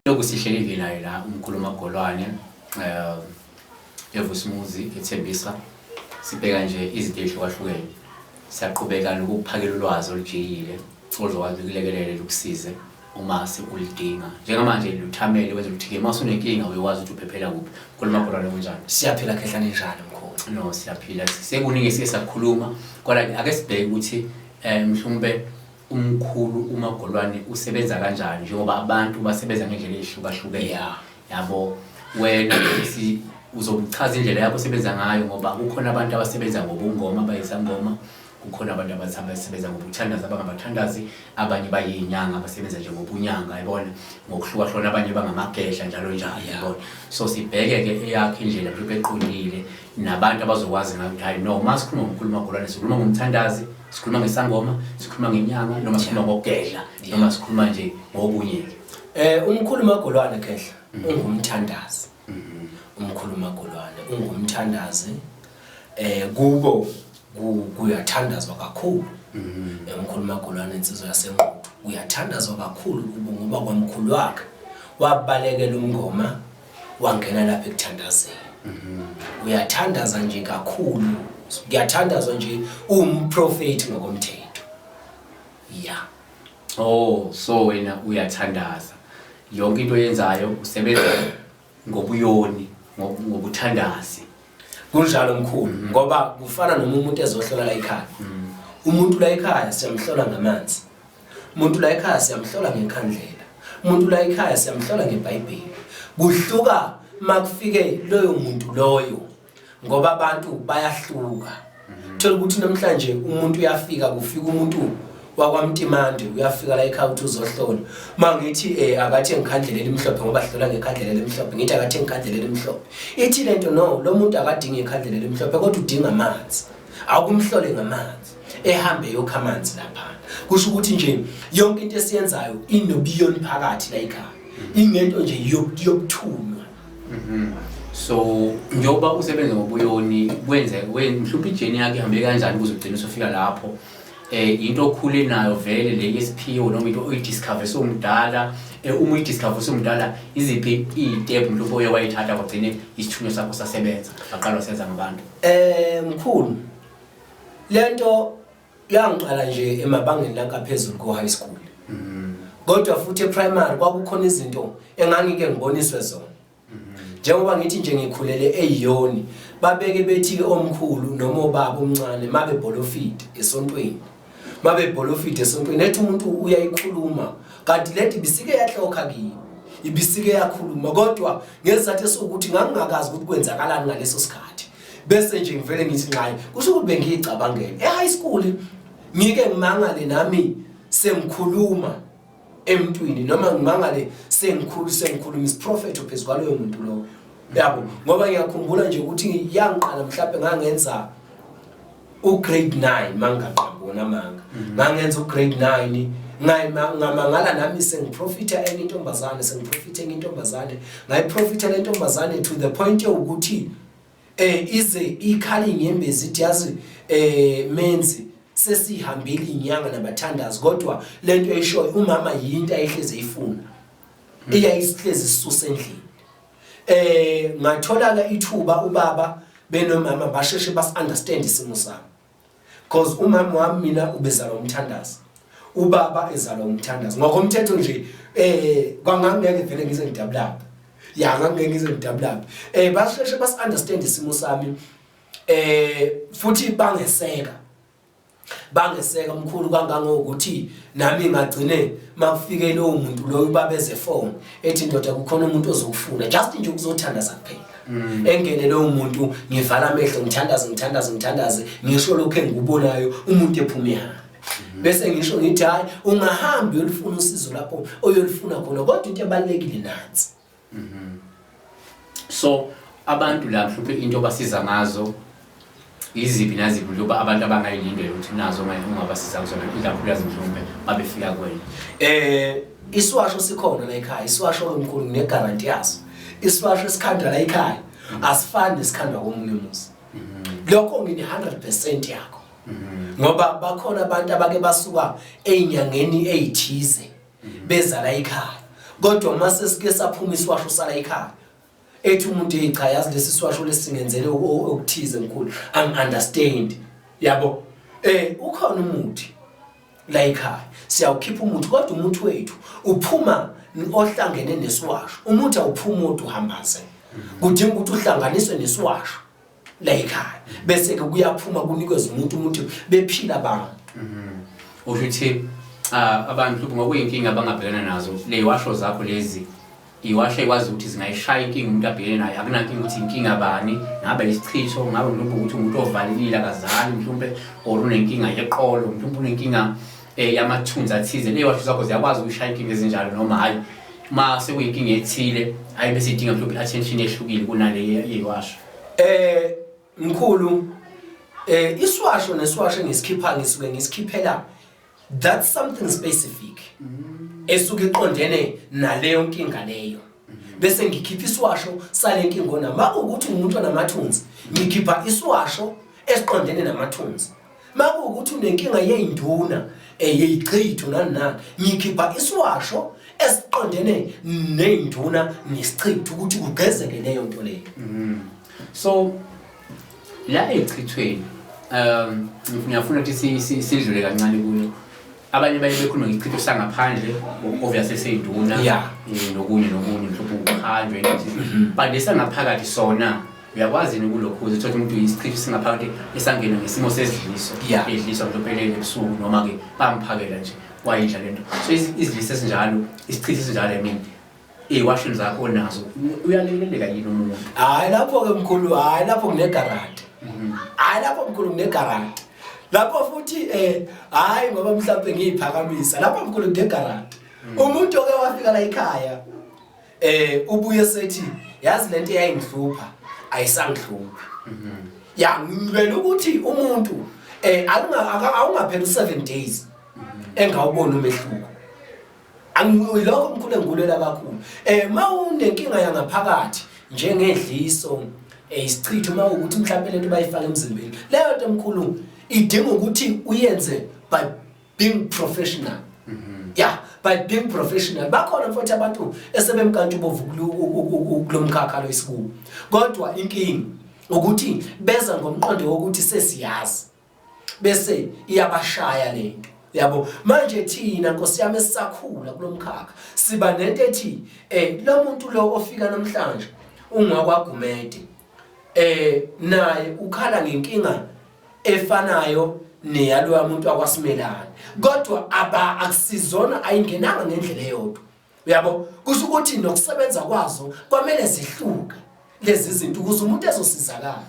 Lokhu sihlelile naye la umkhulu Magolwane eh evusimuzi ethembisa sibheka nje izinto ezihlukahlukene siyaqhubeka nokuphakela ulwazi olujiyile Ozokwazi ukulekelela lukusize uma sekulidinga njengamanje luthamele wenza ukuthi-ke uma sunenkinga uyokwazi ukuthi uphephela kuphi khuluma khona lokunjani siyaphila khehlane njalo mkhulu no siyaphila sekuningi esike sakukhuluma kodwa ake sibheke ukuthi um mhlawumbe umkhulu umagolwane usebenza kanjani njengoba abantu basebenza ngendlela eyihlukahlukene yeah. yabo wena si uzochaza indlela yakho osebenza ngayo ngoba kukhona abantu abasebenza ngobungoma bayizangoma Kukhona abantu abathi abasebenza ngobuthandazi abangabathandazi, abanye bayinyanga abasebenza nje ngobunyanga yabona, ngokuhlukahlukana abanye bangamagedla njalo njalo yabona. So sibheke ke eyakhe indlela mhlawumbe eqondile nabantu abazokwazi ngayo ukuthi hayi no uma sikhuluma ngokukhuluma golwane sikhuluma ngomthandazi, sikhuluma ngesangoma, sikhuluma ngenyanga noma sikhuluma ngokugedla noma sikhuluma nje ngokunye. Eh umkhulu magolwane khehla ungumthandazi. Umkhulu Magolwane ungumthandazi eh kubo kuyathandazwa kakhulu eh, umkhulu Magolwane insizwa yasenquthu uyathandazwa kakhulu kubo ngoba kwamkhulu wakhe wabalekela umngoma wangena lapha ekuthandazeni uyathandaza nje kakhulu kuyathandazwa nje umprofeti ngokomthetho ya Oh, so wena uyathandaza. Yonke into oyenzayo usebenza ngobuyoni, ngo- ngobuthandazi. kunjalo mkhulu ngoba kufana noma umuntu ezohlola la ekhaya umuntu la ekhaya siyamhlola ngamanzi umuntu la ekhaya siyamhlola ngenkhandlela umuntu la ekhaya siyamhlola ngebhayibheli kuhluka makufike loyo muntu loyo ngoba abantu bayahluka mhm. thola ukuthi namhlanje umuntu uyafika kufika umuntu wakwamtimande uyafika la ekhaya ukuthi uzohlola ma ngithi um eh, akathi engikhandlela elimhlophe ngoba hlola ngekhandlela elimhlophe ngithi akathi engikhandlela elimhlophe ithi le nto no lo muntu akadingi ikhandlela elimhlophe kodwa udinga amanzi akumhlole ngamanzi ehambe yokha amanzi laphana kusho ukuthi nje yonke into esiyenzayo inobiyoni phakathi la ekhaya ingento nje yokuthula Mhm. so njengoba usebenza ngobuyoni kwenze we- mhlawumbe ijeni yakhe ihambe kanjani ukuze ugcine usufika lapho um yinto okhule nayo vele le yesiphiwo noma into oyidiscover sewumdala um uma uyidiscover sewumdala iziphi iy'tephu mhlawumbe oye wayithatha kwagcine isithunywa sakho sasebenza waqala wasenza ngabantu Eh mkhulu lento Kuyangiqala nje emabangeni langaphezulu ko high school. Mhm. Kodwa futhi eprimary kwakukhona izinto engangike ngiboniswe zona. Mhm. Njengoba ngithi nje ngikhulele eyiyoni babeke bethi ke omkhulu noma obaba omncane mabe bolofide esontweni. Mabe bolofide esontweni ethi umuntu uyayikhuluma kanti leti bisike yahlokha kimi. Ibisike yakhuluma kodwa ngesizathu esokuthi ngangingakazi ukuthi kwenzakalani ngaleso sikhathi. bese nje ngivele ngithi nxayi kusho ukuthi bengiyicabangele e-high school ngike ngimangale nami sengikhuluma emntwini noma ngimangale sengikhulu sengikhuluma isiprofetho phezu kwaloyo muntu lowo yabo ngoba ngiyakhumbula nje ukuthi yangiqala mhlawumbe ngangenza ugrade 9 mangaqabona manga mhm. ngangenza ugrade 9 ngamangala nami sengiprofitha enye intombazane sengiprofitha enye intombazane ngayiprofitha le ntombazane to the point yokuthi eh ize ikhala inyembezi ithi yazi eh menzi sesihambile inyanga nabathandazi kodwa lento eyishoyo umama yinto ayihleze ifuna hmm. iyayisihleze isisusa endlini eh ngatholaka ithuba ubaba benomama basheshe bas understand isimo sami Cause umama wami mina ubezalwa umthandazi. Ubaba ezalwa umthandazi. Ngokomthetho nje eh kwangangeke vele ngize ngidabulapha. Ya ngangeke ngize ngidabulapha. Eh basheshe bas understand isimo sami. Eh futhi bangeseka. Bangeseka mkhulu kangangokuthi nami ngagcine makufike lowo muntu loyo ubabeze phone. ethi ndoda kukhona umuntu ozokufuna just nje ukuzothandaza kuphela mm. engene lowo muntu ngivala amehlo ngithandaze ngithandaze ngithandaze ngisho lokho engikubonayo umuntu ephuma ehambe mm. bese ngisho ngithi hayi ungahambi uyolifuna usizo lapho oyolifuna khona kodwa into ebalulekile nansi mm-hmm. so abantu la mhlawumbe into basiza ngazo Yiziphi naziphi mhlawumbe abantu abangayilindela ukuthi nazo ungabasiza kuzona ikakhulukazi mhlawumbe babefika kwena? Eh isiwasho sikhona la ekhaya, isiwasho lomkhulu nginegaranti yaso. Isiwasho esikhandwa la ekhaya asifani nesikhandwa komunye umuzi. Lokho ngine 100% yakho. Ngoba bakhona abantu abake basuka einyangeni ezithize beza la ekhaya. Kodwa mase sike saphuma isiwasho sala ekhaya ethi umuntu hey cha yazi lesi siwasho lesingenzele okuthize mkhulu i'm understand yabo eh ukhona umuthi la ekhaya siyawukhipha umuthi kodwa umuthi wethu uphuma ohlangene nesiwasho umuthi awuphumi odwa uhambaze kudinga ukuthi uhlanganiswe nesiwasho la ekhaya bese ke kuyaphuma kunikezwe umuntu umuntu bephila abantu mhm. usho ukuthi abantu ngokuyinkinga abangabhekana nazo leyiwasho zakho lezi iwasho ekwazi ukuthi zingayishaya inkinga umuntu abhekene nayo akunankinga ukuthi inkinga bani ngabe isichitho ngabe mhlawumbe ukuthi umuntu ovalelile akazali mhlawumbe or unenkinga yeqolo mhlawumbe unenkinga eh yamathunzi athize leyo washo zakho ziyakwazi ukushaya inkinga ezinjalo noma hayi uma sekuyinkinga ethile hayi bese idinga mhlawumbe attention ehlukile kunale yewasho eh mkhulu eh iswasho neswasho ngisikhipha ngisuke ngisikhiphela that something specific mm. esuke iqondene naleyo nkinga leyo mm-hmm. bese ngikhipha iswasho sale nkinga ona makuwukuthi umuntu onamathunzi ngikhipha iswasho esiqondene namathunzi makuwukuthi unenkinga yey'nduna um eh, yeyichithu nani nani ngikhipha isiwasho esiqondene ney'nduna nesichithu ukuthi kugezeke leyo nto leyo mm-hmm. so la ey'chithweni um ngiyafuna ukuthi sidlule kancane kuyo abanye baye bekhulume ngesichitho sangaphandle obviously seyiduna Yeah. eh, nokunye nokunye mhlawumbe ukuqhanjwa into Mhm. but lesangaphakathi sona uyakwazi yini ukulokhuza uthole umuntu isichitho singaphakathi esangena ngesimo sesidliso Yeah. edliswa mhlawumbe elele ebusuku noma-ke bamphakela nje wayidla le nto so izi- izidliso ezinjalo isichitho esinjalo i mean Iwashini zakho nazo uyaleleleka yini umuntu? Hayi lapho ke mkhulu, hayi lapho kune garage. Mhm. Hayi lapho mkhulu kune garage. Lapho futhi eh hayi ngoba mhlawumbe ngiyiphakamisa. Lapho mkhulu kune garage. Mhm. Umuntu oke wafika la ekhaya eh ubuye sethi yazi lento eyayingihlupha ayisangihluphi. Mhm. Ya ngibela ukuthi umuntu eh awungapheli 7 days engawubona umehluko. Angilokho mkhulu engikulela kakhulu. Eh mawunenkinga yangaphakathi njengedliso eh isichitho mawukuthi mhlawumbe lento bayifaka emzimbeni. Leyo nto mkhulu idinga ukuthi uyenze by being professional. Mhm. Yeah, by being professional. Bakhona mfowethu abantu esebemkantsha ubovu kulomkhakha lo isikubo. Kodwa inkingi ukuthi beza ngomqondo wokuthi sesiyazi. bese iyabashaya lento yabo manje thina nkosi yami esisakhula kulomkhakha siba nento ethi eh lo muntu lo ofika namhlanje ungakwagumede eh naye ukhala ngenkinga efanayo neyaloya muntu akwasimelana kodwa aba akusizona ayingenanga ngendlela eyodwa uyabo kusho ukuthi nokusebenza kwazo kwamele zihluke lezi zinto ukuze umuntu ezosizakala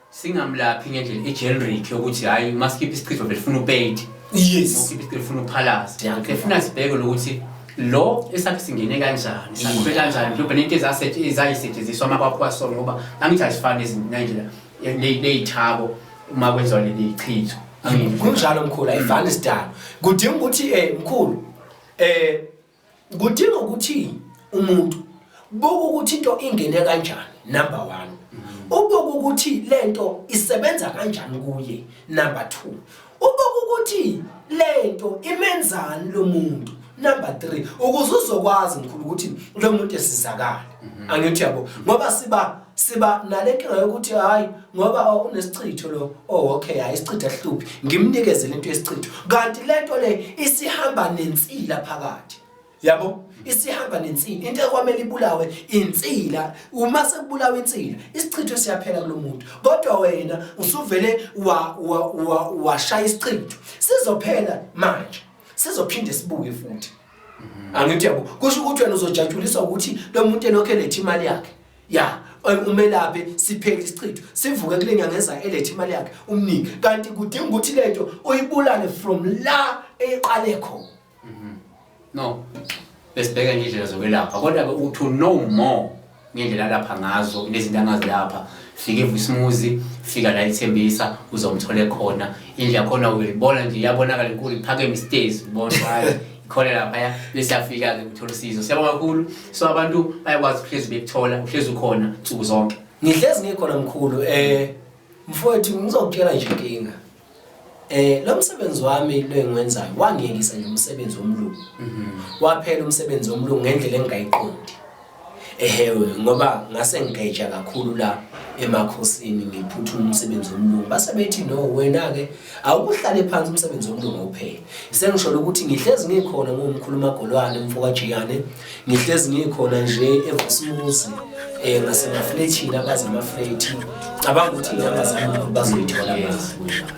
singamlaphi ngendlela egeneric yokuthi hhayi masikhiphe isichitho belifuna upeyiti yes ukhiphe isichitho lifuna uphalazi efuna sibheke lokuthi lo esakhe singene kanjani sakube kanjani mhlawumbe nento ezayisetshenziswa uma kwakho kwasona ngoba angithi azifani ezindlela leyithabo uma kwenziwa leli chitho kunjalo mkhulu ayifani isidalo kudinga ukuthi um mkhulu eh kudinga ukuthi umuntu buka ukuthi into ingene kanjani number 1 ubuka ukuthi lento isebenza kanjani kuye number 2 ubuka ukuthi lento imenzani lo muntu number 3 ukuze uzokwazi mkhulu ukuthi lo muntu esizakala angithi yabo ngoba siba siba nale nkinga yokuthi hayi ngoba unesichitho lo oh okay hayi isichitho ahluphi ngimnikezele into yesichitho kanti lento le isihamba nensila phakathi yabo isihamba nensila into ekwamele ibulawe insila uma sekubulawa insila isichitho siyaphela kulomuntu kodwa wena usuvele wa washaya isichitho sizophela manje sizophinde sibuye futhi angithi yabo kusho ukuthi wena uzojatshuliswa ukuthi lo muntu elokhe lethi imali yakhe ya umelaphi siphele isichitho sivuke kule nyanga ezayo elethe imali yakhe umnike kanti kudinga ukuthi lento uyibulale from la eqale khona mhm. no besibheka indlela zokwelapha kodwa ke uthi no more ngendlela alapha ngazo nezinto angazilapha fika evusimuzi fika la ithembisa uzomthole khona indlela khona uyibona nje iyabonakala inkulu iphakeme isitezi ubona khona laphaya bese yafika-ke ukuthola usizo siyabonga kakhulu so abantu bayakwazi ukuhlezi bekuthola uhlezi ukhona nsuku zonke ngihlezi ngikhona mkhulu um mfowethu ngizokutshela nje inkinga Eh lo msebenzi wami lo engiwenzayo wangiyekisa nje umsebenzi womlungu. Mhm. Waphela umsebenzi womlungu ngendlela engayiqondi. ehewe ngoba ngase ngigeja kakhulu la emakhosini ngiphutha umsebenzi womlungu base bethi no wena-ke awukuhlale phansi umsebenzi womlungu uphele sengisholo ukuthi ngihlezi ngikhona ngumkhuluma golwane mfokajiyane ngihlezi ngikhona nje evosimuzi um eh, ngasemaflethini abazi amaflethi cabanga ukuthi inyama zami bazoyithola manje